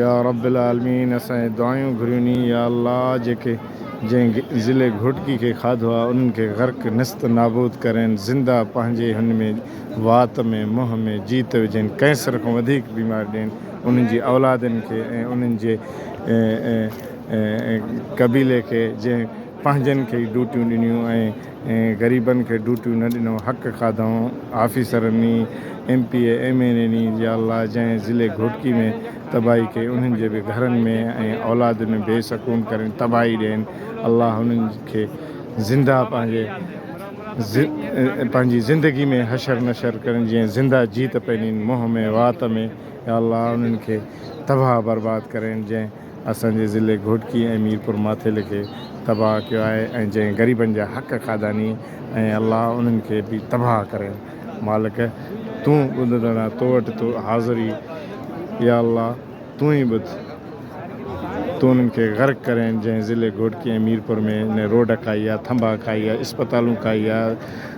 يا رب العالمين اسان اهي دعايون گهريون ني يا الله جيڪي جنهن ضلع گهوٽڪي کي کاڌو آهي انهن کي غرق نست نابود ڪرين زنده پنهنجي هن ۾ وات ۾ منهن ۾ جيت وجهين ڪينسر کان وڌيڪ بيمار ڏين انهن جي اولادن کي ۽ انهن جي قبيلي کي جنهن پنهنجن کي ئي ڊوٽيون ڏنيون ۽ ۽ غريبن کي ڊوٽيون نه ڏنو حق کاڌائون آفيسرن ئي M P A M N N ئي يا الله جنهن ضلعي گهوٽڪي ۾ تباهي ڪئي انهن جي به گهرن ۾ ۽ اولاد ۾ بي سڪون ڪرين تباهي ڏين الله انهن کي زنده پنهنجي پنهنجي زندگي ۾ حشر نشر ڪرين جيئن زنده جيت پنين منهن ۾ وات ۾ يا الله انهن کي تباهه برباد ڪرين جنهن اسان جي ضلعي گهوٽڪي ۽ ميرپور ماٿيلي کي تباهه ڪيو آهي ۽ جنهن غريبن جا حق کاڌا ني ۽ الله انهن کي به تباهه ڪري مالڪ تون ٻڌندڙا تو وٽ تو حاضر ئي يا الله تون ئي ٻڌ تو انهن کي غرق ڪرين جنهن ضلعي گهوٽڪي ۽ ميرپور ۾ نه روڊ کائي آ ٿنڀا کائي آ اسپتالون کائي آ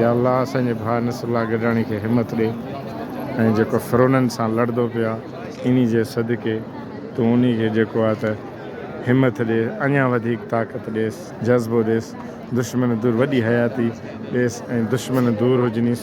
يا الله اسان جي ڀاء نصر الله گڏاڻي کي همت ڏي ۽ جيڪو فرونن سان لڙدو پيو آ انهي جي صدقي تون انهي کي جيڪو آ ته همت ڏي اڃان وڌيڪ طاقت ڏيس جذبو ڏيس دشمن دور وڏي حياتي ڏيس ۽ دشمن دور هجنيس